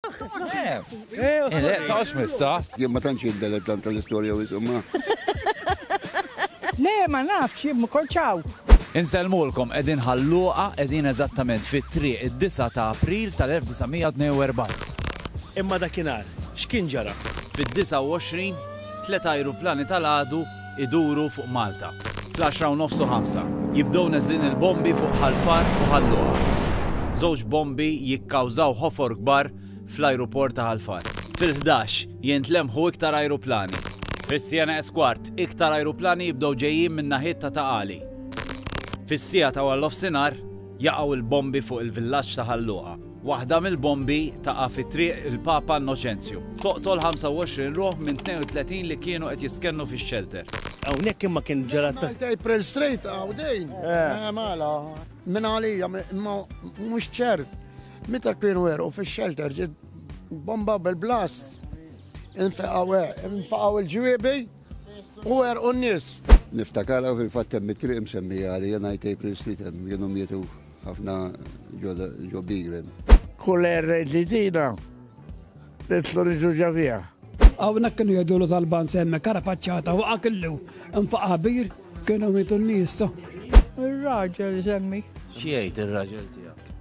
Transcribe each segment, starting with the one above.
Le, tax missa. Jien ma tantx jiddelet tant tal-istorja u jisumma. Le, ma nafx, jien ma konċaw. Insellmulkom qegħdin ħalluqa qegħdin eżattament fit-triq id-9 ta' April tal-1942. Imma dakinhar, x'kien ġara? Fid-29, tliet ajruplani tal-għadu iduru fuq Malta. Fl-għaxra u nofs u ħamsa, jibdew neżlin il-bombi fuq Ħal Far u Ħal Luqa. Żewġ bombi jikkawżaw ħofor kbar fl-ajruport ta' Ħal Far. Fil-ħdax, jintlemħu iktar ajruplani. Fis-siena es kwart, iktar ajruplani jibdew ġejjin minn naħiet ta' Ta' Qali. Fis-siegħa ta' warnofsinhar, jaqgħu l-bombi fuq il-villaġġ ta' Ħal Luqa. Waħda mill-bombi taqa' fi Triq il-Papa Innoċenzju. Toqtol 25 ruħ minn 32 li kienu qed jiskennu fix-xelter. Hawnhekk imma kien ġara ta' Ngħid April Street hawn dejn. Eh, Mela, minn għalija m- imma mhux ċert. Meta kienu werqu fix-shelter ġiet bomba bil-blast. Infeqgħu eh, infaqgħu l-ġwiebi. U għerqu n-nies. Niftakarha fil-fatt hemm it-triq imsemmija għalija ngħid April Street hemm kienu mietu ħafna ġo Biglem. Kull erra ġdidina nitlu niġu ġavija. Hawnhekk kienu jgħidulu tal-ban semmek ara paċċata waqa' killu nfaqa' bir kienu mietu n-nies. Ir-raġel semmi. X'jgħid ir-raġel tiegħek?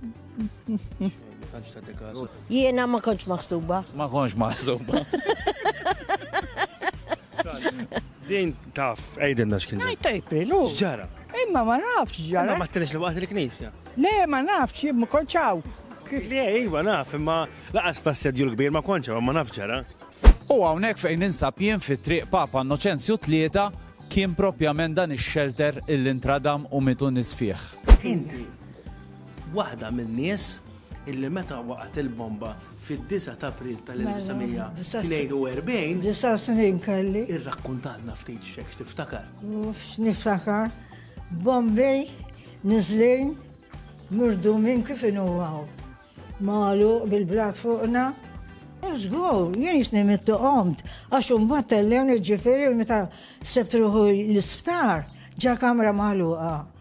Jiena ma konċ maħsuba. Ma konċ maħsuba. Din taf, ejden dax kien. Għajta jiprilu. Ġara. Imma ma nafx ġara. Ma t-tenix li waqt il-knisja. Le, ma nafx, ma konċaw. Kif li ejwa naf, imma laqas passedju l-kbir ma konċaw, ma naf ġara. U għawnek fejn ninsab jien fit triq Papa Noċenzju tlieta kien propjament dan ix-xelter il-intradam u mitu nisfieħ. Inti, Waħda min-nies illi meta waqgħet il-bomba fid-9 ta' April tal-1942. Disa' snin kelli. Irrakkuntatna ftit xek tiftakar. Niftakar bombi niżlin murdu minn kif inuwaw. Malu bil-blat fuqna. Zgur, jien jisni mittu qomt, għax un battellewni ġifiri meta sebtruħu l-isptar ġa kamra maluqa.